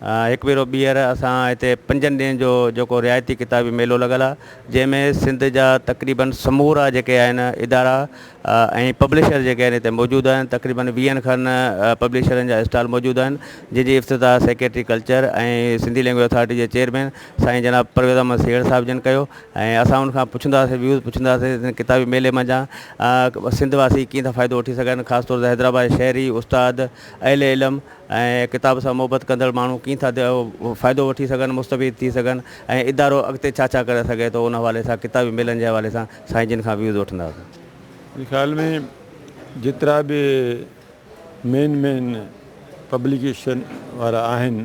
هڪ ڀيرو ٻيهر اسان هتي پنجن ڏينهن جو جيڪو رعايتي ڪتابي ميلو لڳل آهي جنهن ۾ سنڌ جا تقريباً سمورا جيڪي آهن ادارا ۽ پبلشر جيڪي آهن هتي موجود آهن تقريباً ويهن کن پبلشرن جا اسٽال موجود آهن جنهن جي افتتاح secretary culture ۽ Sindhi language authority جي چيئرمين سائين جناب پرويز احمد سيهڙ صاحب جن ڪيو ۽ اسان ان کان پڇنداسين ويوز پڇنداسين ڪتابي ميلي منجهان سنڌ واسي ڪيئن ٿا فائدو وٺي سگهن خاص طور تي حيدرآباد شهري استاد اهل علم ۽ ڪتاب سان محبت ڪندڙ ماڻهو ڪيئن ٿا فائدو وٺي سگهن مستفيد ٿي سگهن ۽ ادارو اڳتي ڇا ڇا ڪري سگهي ٿو ان حوالي سان ڪتابي ميلن جي حوالي سان سائين جن کان ويوز وٺنداسين. منهنجي خيال ۾ جيترا به مين مين پبليڪيشن وارا آهن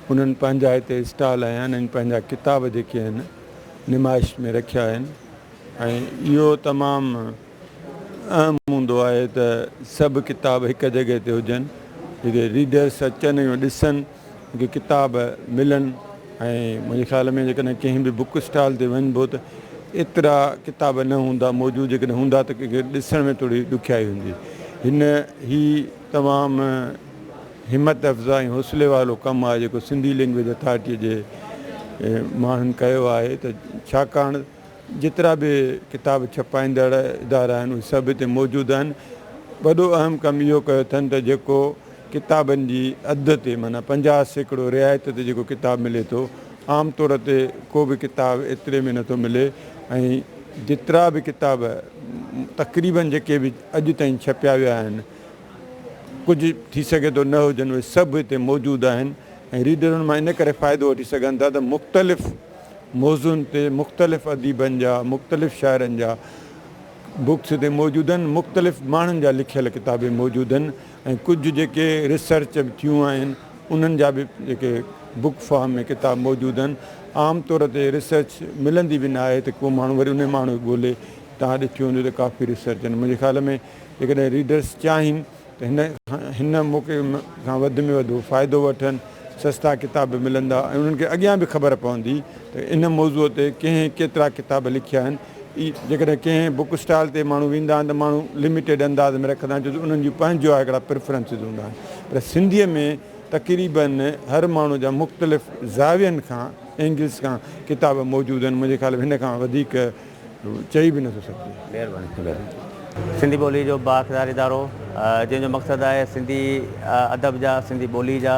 انهن پنهنجا هتي اسٽال هنيا آهن ۽ پنهنجا ڪتاب جيڪي آهن نمائش ۾ رکيا آهن ۽ اهو تمام اهم هوندو آهي ته سڀ ڪتاب هڪ جڳهه تي هجن جتي ريڊرس اچن ۽ ڏسن ڪي ڪتاب ملن ۽ منهنجي خيال ۾ جيڪڏهن ڪنهن به بوڪ اسٽال تي وڃبو ته ايترا ڪتاب نه هوندا موجود جيڪڏهن هوندا ته ڪنهن کي ڏسڻ ۾ ٿوري ڏکيائي هوندي هن هي تمام همت افزا ۽ حوصلي وارو ڪم آهي جيڪو سنڌي لينگويج اٿارٽي جي ماڻهن ڪيو آهي ته ڇاڪاڻ جيترا به ڪتاب ڇپائيندڙ ادارا آهن اهي سڀ هتي موجود آهن. وڏو اهم ڪم اهو ڪيو اٿن ته جيڪو ڪتابن جي اڌ تي معنيٰ پنجاهه سيڪڙو رعايت تي جيڪو ڪتاب ملي ٿو عام طور تي ڪو به ڪتاب ايتري ۾ نٿو ملي ۽ جيترا به ڪتاب تقريبن جيڪي به اڄ تائين ڇپيا ويا آهن ڪجهه ٿي سگهي ٿو نه هجن اهي سڀ هتي موجود آهن ۽ ريڊر ان مان ان ڪري فائدو وٺي سگهن ٿا ته مختلف موضوعن تي مختلف اديبن جا مختلف شاعرن جا بڪس تي موجودن مختلف ماڻهن جا لکيل ڪتاب به موجودن ۽ ڪجهه جيڪي ريسرچ به ٿيون آهن انهن جا به جيڪي بڪ فارم ۾ ڪتاب موجودن عام طور تي ريسرچ ملندي به نه آهي ته ڪو ماڻهو وري انهي ماڻهو کي ڳولي تان ڏٺي هوندي ته ڪافي ريسرچ آهن منهنجي خيال ۾ جيڪڏهن ريڊرس چاهين ته هن موقعي کان وڌ ۾ وڌ فائدو وٺن، سستا ڪتاب به ملندا ۽ انهن کي اڳيان به خبر پوندي ته ان موضوع تي ڪنهن ڪيترا ڪتاب لکيا آهن. جيڪڏهن ڪنهن بوڪ اسٽال تي ماڻهو ويندا آهن ته ماڻهو لميٽيڊ انداز ۾ رکندا آهن ڇو ته انهن جون پنهنجو آهي هڪڙا پريفرنسز هوندا آهن پر سنڌيء ۾ تقريباً هر ماڻهو جا مختلف زاوين کان اينگلز کان ڪتاب موجود آهن منهنجي خيال ۾ هن کان وڌيڪ چئي به نٿو سگهجي. مهرباني ٿيندو. سنڌي ٻولي جو بااقتدار ادارو جنهن جو مقصد آهي سنڌي ادب جا، سنڌي ٻولي جا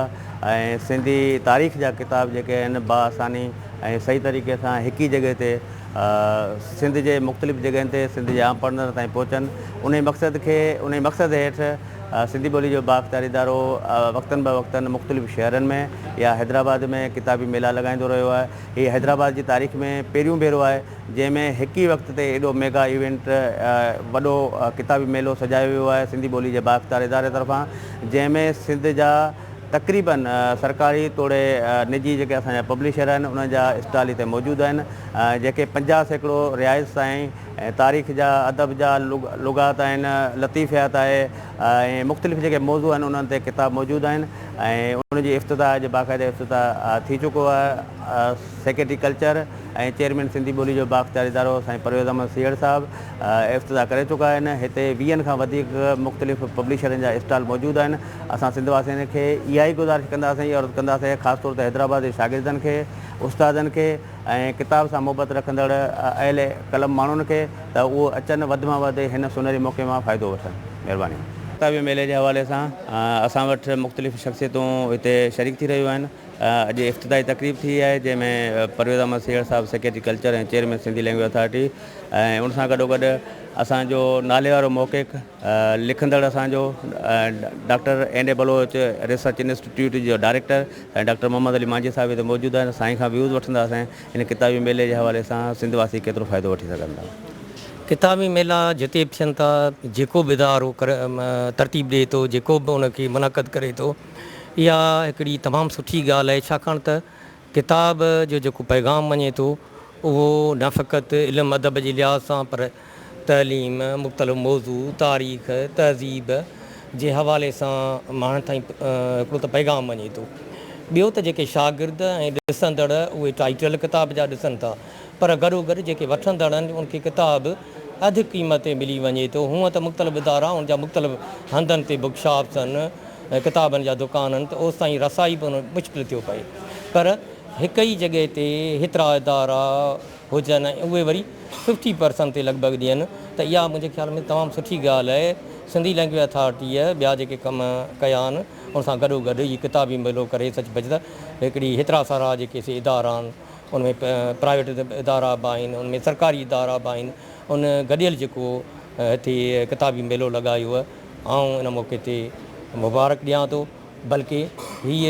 ۽ سنڌي تاريخ جا ڪتاب جيڪي آهن باآساني ۽ صحيح طريقي سان هڪ ئي جڳهه تي سنڌ جي مختلف جڳهين تي سنڌ جي عام پڙهندڙن تائين پهچن انهي مقصد کي انهي مقصد هيٺ سنڌي ٻولي جو بااقتدار ادارو وقتن بوقتن مختلف شهرن ۾ يا حيدرآباد ۾ ڪتابي ميلا لڳائيندو رهيو آهي. هي حيدرآباد جي تاريخ ۾ پهريون ڀيرو آهي جنهن ۾ هڪ ئي وقت تي ايڏو ميگا ايونٽ وڏو ڪتابي ميلو سجايو ويو آهي سنڌي ٻولي جي بااختيار اداري طرفان جنهن ۾ سنڌ جا تقريبن سرڪاري توڙي نجي جيڪي اسان جا پبلشر آهن انهن جا اسٽال هتي موجود آهن جيڪي پنجاهه سيڪڙو رهائش سائين تاريخ جا ادب جا لغات آهن لطيفيات آهي ۽ مختلف جيڪي موضوع آهن انهن تي ڪتاب موجود آهن. ۽ ان جي افتتاح اڄ باقاعده افتتاح ٿي چڪو آهي سيڪريٽري ڪلچر ۽ چيئرمين سنڌي ٻولي جو بااختيار ادارو سائين پرويز احمد سيهڙ صاحب افتتاح ڪري چڪا آهن هتي ويهن کان وڌيڪ مختلف پبلشرن جا اسٽال موجود آهن اسان سنڌ واسين کي اها ئي گذارش ڪنداسين عرض ڪنداسين خاص طور تي حيدرآباد جي شاگردن کي استادن کي ۽ ڪتاب سان محبت رکندڙ اهل قلم ماڻهن کي ته اهو اچن وڌ مان وڌ هن سونهري موقعي مان فائدو وٺن. مهرباني. ڪتابي ميلي جي حوالي سان اسان وٽ مختلف شخصيتون هتي شريڪ ٿي رهيون آهن. اڄ افتتاحي تقريب ٿي آهي جنهن ۾ پرويز احمد سيهڙ صاحب secretary culture ۽ chairman Sindhi language authority ۽ ان سان گڏوگڏ اسان جو ناليوارو محقق، لکندڙ اسان جو doctor N A Baloch research institute جو ڊائريڪٽر ۽ ڊاڪٽر محمد علي مانجهي صاحب هتي موجود آهن سائين کان ويوز وٺنداسين هن ڪتابي ميلي جي حوالي سان سنڌ واسي ڪيترو فائدو وٺي سگهن ٿا. ڪتابي ميلا جتي به ٿين ٿا جيڪو به ادارو ترتيب ڏئي ٿو جيڪو به ان کي منعقد ڪري ٿو اها هڪڙي تمام سٺي ڳالهه آهي ڇاڪاڻ ته ڪتاب جو جيڪو پيغام وڃي ٿو اهو نه فقط علم ادب جي لحاظ سان پر تعليم، مختلف موضوع، تاريخ، تهذيب جي حوالي سان ماڻهن تائين هڪڙو ته پيغام وڃي ٿو ٻيو ته جيڪي شاگرد ۽ ڏسندڙ اهي ٽائيٽل ڪتاب جا ڏسن ٿا پر گڏوگڏ جيڪي وٺندڙ آهن ان کي ڪتاب اڌ قيمت تي ملي وڃي ٿو هونء ته مختلف ادارا ان جا مختلف هنڌن تي بڪشاپسن ڪتابن جا دڪانن ته اوستائين رسائي به مشڪل ٿيو پئي پر هڪ ئي جڳهه تي هيترا ادارا هجن ۽ اهي وري ففٽي پرسن تي لڳ ڀڳ ڏين ته اها منهنجي خيال ۾ تمام سٺي ڳالهه آهي سنڌي لئنگويج اٿارٽيء ٻيا جيڪي ڪم ڪيا آهن ان سان گڏو گڏ هي ڪتابي ميلو ڪري سچ پچ ته هڪڙي هيترا سارا جيڪي سي ادارا آهن ان ۾ پرائيويٽ ادارا به آهن ان ۾ سرڪاري ادارا به آهن ان گڏيل جيڪو هتي ڪتابي ميلو لڳايو آئون ان موقعي تي مبارڪ ڏيان ٿو بلڪه هي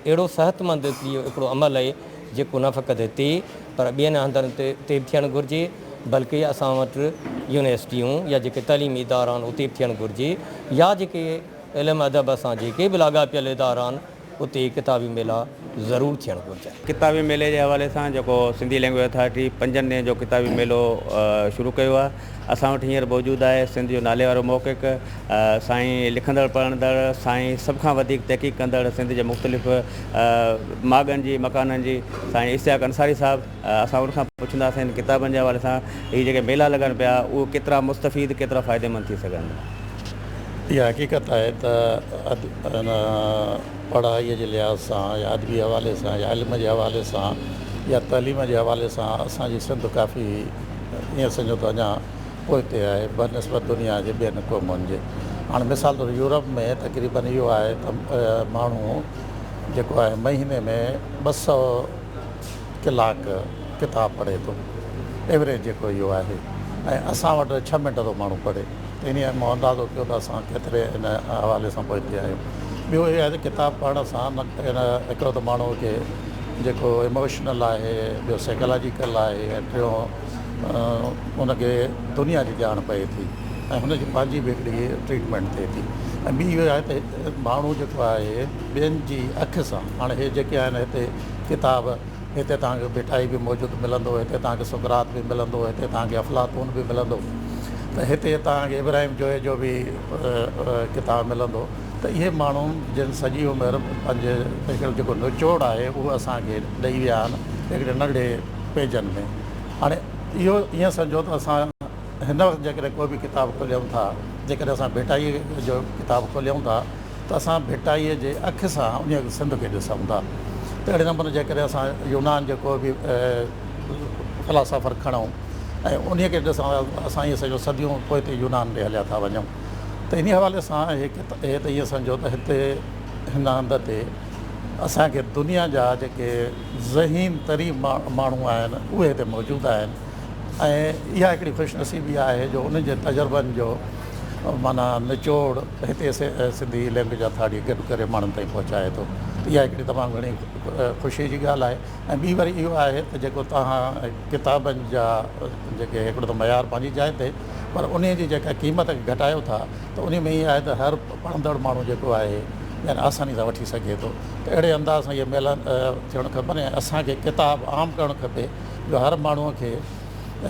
اهڙو صحتمند جو هڪڙو عمل آهي جيڪو نه فقط هتي پر ٻين هنڌن تي به ٿيڻ گهرجي بلڪه اسان وٽ يونيورسٽيون يا جيڪي تعليمي ادارا آهن اتي به ٿيڻ گهرجي يا جيڪي علم ادب سان جيڪي به لاڳاپيل ادارا آهن اتي ڪتابي ميلا ضرور ٿيڻ گهرجن. ڪتابي ميلي جي حوالي سان جيڪو سنڌي لينگويج اٿارٽي پنجن ڏينهن جو ڪتابي ميلو شروع ڪيو آهي اسان وٽ هينئر موجود آهي سنڌ جو ناليوارو محقق سائين لکندڙ پڙهندڙ سائين سڀ کان وڌيڪ تحقيق ڪندڙ سنڌ جي مختلف ماڳن جي مڪانن جي سائين اشتياق انصاري صاحب اسان ان کان پڇنداسين هن ڪتابن جي حوالي سان هي جيڪي ميلا لڳن پيا اهي ڪيترا مستفيد ڪيترا فائديمند ٿي سگهن. اها حقيقت آهي ته پڙهائي جي لحاظ سان يا ادبي حوالي سان يا علم جي حوالي سان يا تعليم جي حوالي سان اسان جي سنڌ ڪافي ائين سمجهو ته اڃا پوئتي آهي بنسبت دنيا جي ٻين قومن جي هاڻي مثال طور يورپ ۾ تقريبن اهو آهي ته ماڻهو جيڪو آهي مهيني ۾ ٻه سئو ڪلاڪ ڪتاب پڙهي ٿو ايوريج جيڪو اهو آهي ۽ اسان وٽ ڇهه منٽ ٿو ماڻهو پڙهي ته انهي مون اندازو ڪيو ته اسان ڪيتري ان حوالي سان پوئتي آهيون ٻيو اهو آهي ته ڪتاب پڙهڻ سان هڪڙو ته ماڻهو کي جيڪو اموشنل آهي ٻيو سيڪلاجيڪل آهي ۽ ٽيون ان کي دنيا جي ڄاڻ پئي ٿي ۽ هن جي پنهنجي به هڪڙي ٽريٽمينٽ ٿئي ٿي ۽ ٻي اهو آهي ته ماڻهو جيڪو آهي ٻين جي اک سان هاڻي هي جيڪي آهن هتي ڪتاب، هتي توهان کي ڀٽائي به موجود ملندو، هتي توهان کي سقراط به ملندو، هتي توهان کي افلاطون به ملندو ته هتي توهان کي ابراهيم جويي جو به ڪتاب ملندو ته اهي ماڻهو جن سڄي عمر پنهنجي هڪڙو جيڪو نچوڙ آهي اهو اسان کي ڏئي ويا آهن هڪڙي ننڍڙي پيجن ۾ هاڻي اهو ائين سمجهو ته اسان هن وقت جيڪڏهن ڪو به ڪتاب کوليون ٿا جيڪڏهن اسان ڀٽائي جو ڪتاب کوليون ٿا ته اسان ڀٽائيء جي اک سان انهيء سنڌ کي ڏسون ٿا ته اهڙي نموني جيڪڏهن اسان يونان جو ڪو به فلاسافر کڻون ۽ انهيء کي ڏسون ٿا ته اسان ائين سمجهون صديون پوئتي يونان ڏي هليا ٿا وڃون ته انهيء حوالي سان هي ته ائين سمجهو ته هتي هن هنڌ تي اسان کي دنيا جا جيڪي ذهين ترين ماڻهو آهن اهي هتي موجود آهن ۽ اها هڪڙي خوش نصيبي آهي جو انهن جي تجربن جو معنيٰ نچوڙ هتي سنڌي لينگويج اٿارٽي گڏ ڪري ماڻهن تائين پهچائي ٿو اها هڪڙي تمام گهڻي خوشي جي ڳالهه آهي ۽ ٻي وري اهو آهي ته جيڪو توهان ڪتابن جا جيڪي هڪڙو ته معيار پنهنجي جاء تي پر ان جي جيڪا قيمت کي گهٽايو ٿا ته ان ۾ اهي آهي ته هر پڙهندڙ ماڻهو جيڪو آهي يعني آساني سان وٺي سگهي ٿو ته اهڙي انداز سان اهي ميلا ٿيڻ کپن ۽ اسان کي ڪتاب عام ڪرڻ کپي جو هر ماڻهو کي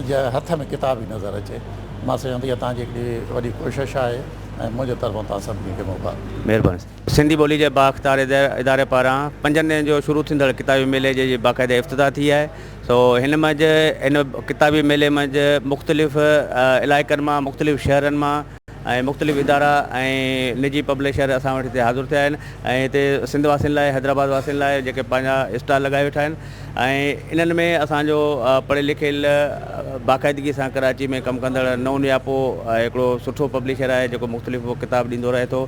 جي هٿ ۾ ڪتاب ئي نظر اچي. مان سوچيم ته اها توهان جي هڪڙي وڏي ڪوشش آهي ۽ منهنجي طرفان توهان سڀني کي مبارڪ. مهرباني سان. سنڌي ٻولي جي بااختيار اداري پاران پنجن ڏينهن جو شروع ٿيندڙ ڪتابي ميلي جي جي باقاعده افتتاح ٿي آهي سو هن منجهه هن ڪتابي ميلي منجهه مختلف علائقن مان مختلف شهرن مان ۽ مختلف ادارا ۽ نجي پبلشر اسان وٽ هتي حاضر ٿيا آهن ۽ هتي سنڌ واسين لاء حيدرآباد واسين لاء جيڪي پنهنجا اسٽال لڳائي ويٺا آهن ۽ انهن ۾ اسان جو پڙهيل لکيل باقاعدگي سان ڪراچي ۾ ڪم ڪندڙ نو نياپو هڪڙو سٺو پبلشر آهي جيڪو مختلف ڪتاب ڏيندو رهي ٿو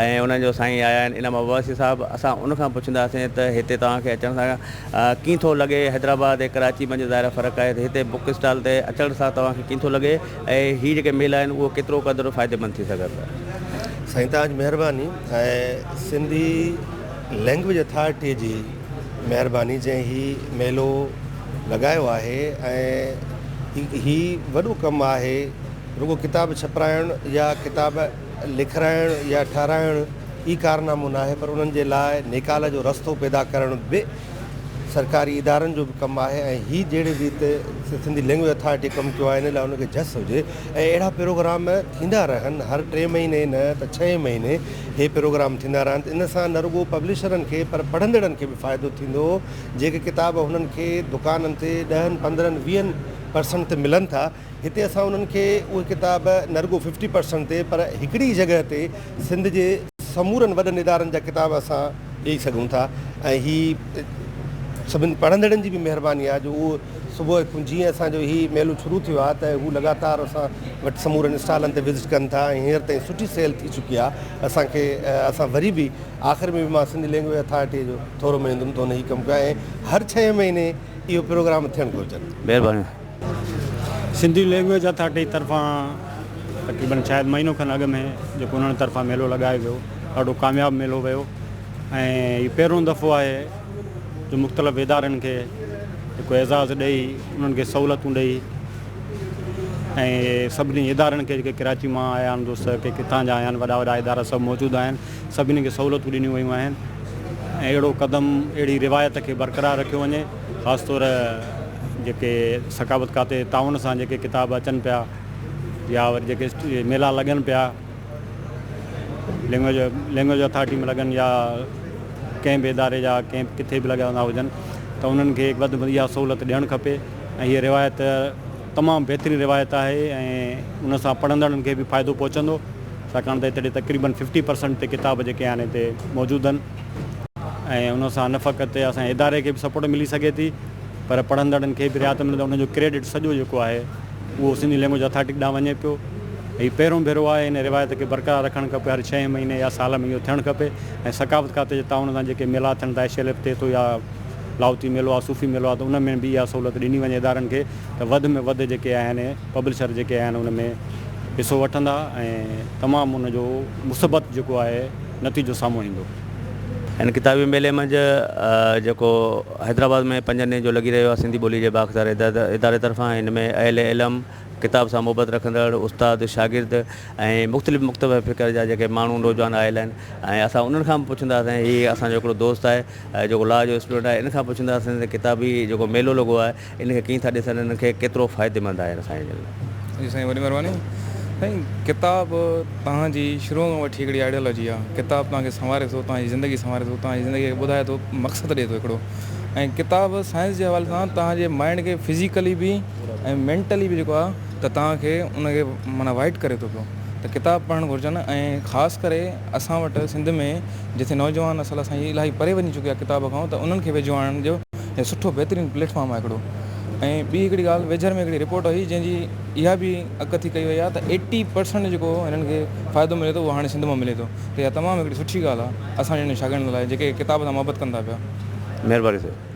۽ انهن جو سائين آيا آهن انعام عباسي صاحب اسان ان کان پڇنداسين ته هتي توهان کي اچڻ سان ڪيئن ٿو لڳي حيدرآباد ۽ ڪراچي منجهه ظاهر فرق آهي ته هتي بوڪ اسٽال تي اچڻ سان توهان کي ڪيئن ٿو لڳي ۽ هي جيڪي ميلا آهن اهو ڪيترو قدر فائديمند ٿي سگهن ٿا. سائين توهان جي مهرباني ۽ سنڌي لينگويج اٿارٽي جي مهرباني جنهن هي ميلو لڳايو آهي ۽ هي وڏو ڪم آهي رڳو ڪتاب ڇپرائڻ يا ڪتاب لکرائڻ يا ٺهرائڻ ئي ڪارنامو ناهي پر انهن جي لاء نيڪال جو رستو پيدا ڪرڻ به سرڪاري ادارن جو به ڪم آهي ۽ هي جهڙي ريت سنڌي لينگويج اٿارٽي ڪم ڪيو آهي ان لاء ان کي جس هجي ۽ اهڙا پروگرام ٿيندا رهن هر ٽي مهيني نه ته ڇهين مهيني هي پروگرام ٿيندا رهن ته ان سان نه رڳو پبلشرن کي پر پڙهندڙن کي به فائدو ٿيندو جيڪي ڪتاب هنن کي دڪانن تي ڏهن پندرهن ويهن پرسنٽ تي ملن ٿا هتي اسان انهن کي اهي ڪتاب نه رڳو ففٽي پرسنٽ تي پر هڪڙي ئي جڳهه تي سنڌ جي سمورن وڏن ادارن جا ڪتاب اسان ڏئي سگهون ٿا ۽ هي سڀن پڙهندڙن جي به مهرباني آهي جو اهو صبح کان جيئن اسان جو هي ميلو شروع ٿيو آهي ته هو لڳاتار اسان وٽ سمورن اسٽالن تي وزٽ ڪن ٿا ۽ هينئر تائين سٺي سيل ٿي چڪي آهي اسان کي اسان وري به آخر ۾ به مان سنڌ لينگويج اٿارٽي جو ٿورو مڃندم ته هن هي ڪم ڪيو آهي ۽ هر ڇهين مهيني اهو پروگرام ٿيڻ گهرجن. مهرباني. سنڌي لينگويج اٿارٽي طرفان تقريبن شايد مهينو کن اڳ ۾ جيڪو انهن طرفان ميلو لڳايو ويو ڏاڍو ڪامياب ميلو ويو ۽ هي پهريون دفعو آهي جو مختلف ادارن کي هڪ اعزاز ڏيئي انهن کي سهولتون ڏيئي ۽ سڀني ادارن کي جيڪي ڪراچي مان آيا آهن دوست ڪي ڪٿان جا آيا آهن وڏا وڏا ادارا سڀ موجود آهن سڀني کي سهولتون ڏنيون ويون آهن ۽ اهڙو قدم اهڙي روايت کي برقرار رکيو وڃي خاص طور جيڪي ثقافت کاتي تعاون سان جيڪي ڪتاب اچن پيا يا وري جيڪي ميلا لڳن پيا لينگويج لينگويج اٿارٽي ۾ لڳن يا ڪنهن به اداري جا ڪنهن ڪٿي به لڳا ويندا هجن ته انهن کي وڌ ۾ اها سهولت ڏيڻ کپي ۽ هي روايت تمام بهترين روايت آهي ۽ ان سان پڙهندڙن کي به فائدو پهچندو ڇاڪاڻ ته اتي تقريبن ففٽي پرسنٽ تي ڪتاب جيڪي آهن اتي موجود آهن ۽ ان سان نه فقط اسان جي اداري کي به سپورٽ ملي سگهي ٿي پر پڙهندڙن کي به رعايت ملندي ان جو ڪريڊٽ سڄو جيڪو آهي اهو سنڌي لينگويج اٿارٽي ڏانهن وڃي پيو هي پهريون ڀيرو آهي ان روايت کي برقرار رکڻ کپي هر ڇهين مهيني يا سال ۾ اهو ٿيڻ کپي ۽ ثقافت کاتي جي تعاون سان جيڪي ميلا ٿين ٿا ايش ايل ايف تي ٿو يا لاهوتي ميلو آهي صوفي ميلو آهي ته ان ۾ به اها سهولت ڏني وڃي ادارن کي ته وڌ ۾ وڌ جيڪي آهن پبلشر جيڪي آهن ان ۾ حصو وٺندا ۽ تمام ان جو مثبت جيڪو آهي نتيجو سامهون ايندو. هن ڪتابي ميلي منجهه جيڪو حيدرآباد ۾ پنجن ڏينهن جو لڳي رهيو آهي سنڌي ٻولي جي بااختيار اداري طرفان ان ۾ اهل علم، ڪتاب سان محبت رکندڙ استاد، شاگرد ۽ مختلف مڪتبه فڪر جا جيڪي ماڻهو نوجوان آيل آهن ۽ اسان انهن کان به پڇنداسين هي اسان جو هڪڙو دوست آهي جيڪو لا جو اسٽوڊنٽ آهي ان کان پڇنداسين ته ڪتابي جيڪو ميلو لڳو آهي ان کي ڪيئن ٿا ڏسن ان کي ڪيترو فائديمند آهي اسان جي لاء. جي سائين وڏي مھرباني سائين ڪتاب توھان جي شروع کان وٺي ھڪڙي آئيڊيالوجي آ ڪتاب توھان کي سنواري ٿو توھان جي زندگي سنواري ٿو توھان جي زندگي کي ٻڌائي ٿو مقصد ڏي ٿو ھڪڙو ۽ ڪتاب سائنس جي حوالي سان توھان جي مائنڊ کي فزيڪلي به ۽ مينٽلي به جيڪو آ ته توھان کي ان کي معنيٰ وائٽ ڪري ٿو پيو ته ڪتاب پڙھڻ گھرجن ۽ خاص ڪري اسان وٽ سنڌ ۾ جٿي نوجوان نسل اسان جي الاھي پري وڃي چڪي آ ڪتاب کان ته انھن کي ويجھو آڻڻ جو هي سٺو بهترين پليٽ فارم آهي هڪڙو ۽ ٻي هڪڙي ڳالهه ويجهر ۾ هڪڙي رپورٽ هئي جنهن جي اها به اڪ ٿي ڪئي وئي آهي ته ايٽي پرسنٽ جيڪو هنن کي فائدو ملي ٿو اهو هاڻي سنڌ مان ملي ٿو ته اها تمام هڪڙي سٺي ڳالهه آهي اسان جهڙن شاگردن لاء جيڪي ڪتاب سان محبت ڪن ٿا پيا مهرباني سائين.